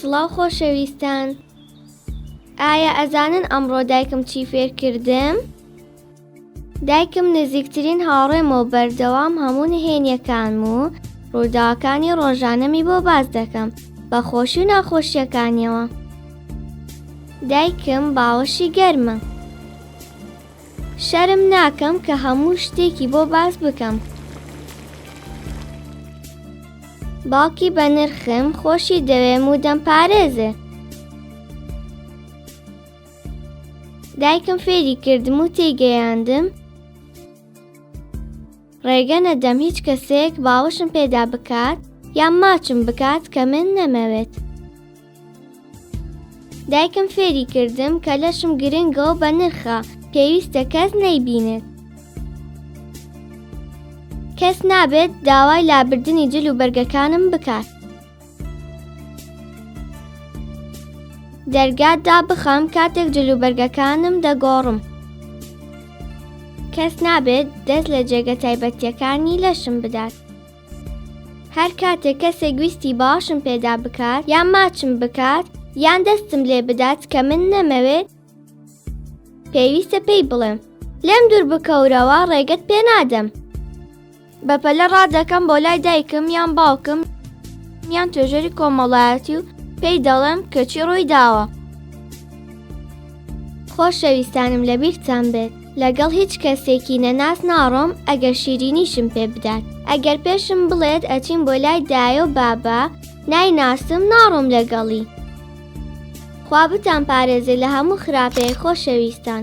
سڵاو خۆشەویستان ئایا ئەزانن ئەمڕۆ دایکم چی فێرکردم؟ دایکم نزیکترین هاوڕێمە و بەردەوام هەموو نهێنیەکان و ڕووداوەکانی ڕۆژانەمی بۆ باز دەکەم بە خۆشی و ناخۆشیەکانیەوە دایکم باوەشی گەرمە شەرم ناکەم کە هەموو شتێکی بۆ باس بکەم. باوکی بە نرخم خۆشی دەوێم و دەم پارێزێ. دایکم فێری کردم و تێگەیاندم ڕێگە نەدەم هیچ کەسێک باوەشم پێدا بکات یان ماچم بکات کە من نەمەوێت. دایکم فێری کردم کە لەشم گرنگە و بە نرخە پێویستە کەس نەیبینێت کەس نابێت داوای لابردنی جل و بەرگەکانم بکات دەرگات دا بخەم کاتێک جل و بەرگەکانم دەگۆڕم کەس نابێت دەست لە جێگە تایبەتیەکانی لەشم بدات هەر کاتێک کەسێک ویستی باشم پێدا بکات یان ماچم بکات یان دەستم لێ بدات کە من نەمەوێت پێویستە پێی بڵێم لێم دوور بکەورەوە ڕێگەت پێ نادەم بەپەلە ڕادەکەم بۆ لای دایکم یان باوکم یان توێژەری کۆمەڵایەتی و پێی دەڵێم کەچی ڕووی داوە خۆشەویستانم لەبیرتان بێت لەگەڵ هیچ کەسێکی نەناس ناڕۆم ئەگەر شیرینیشم پێ بدات ئەگەر پێشم بڵێت ئەچین بۆ لای دایە و بابا نایناسم ناڕۆم لەگەڵی خوا بتان پارێزێ لە هەموو خراپەیە خۆشەویستان.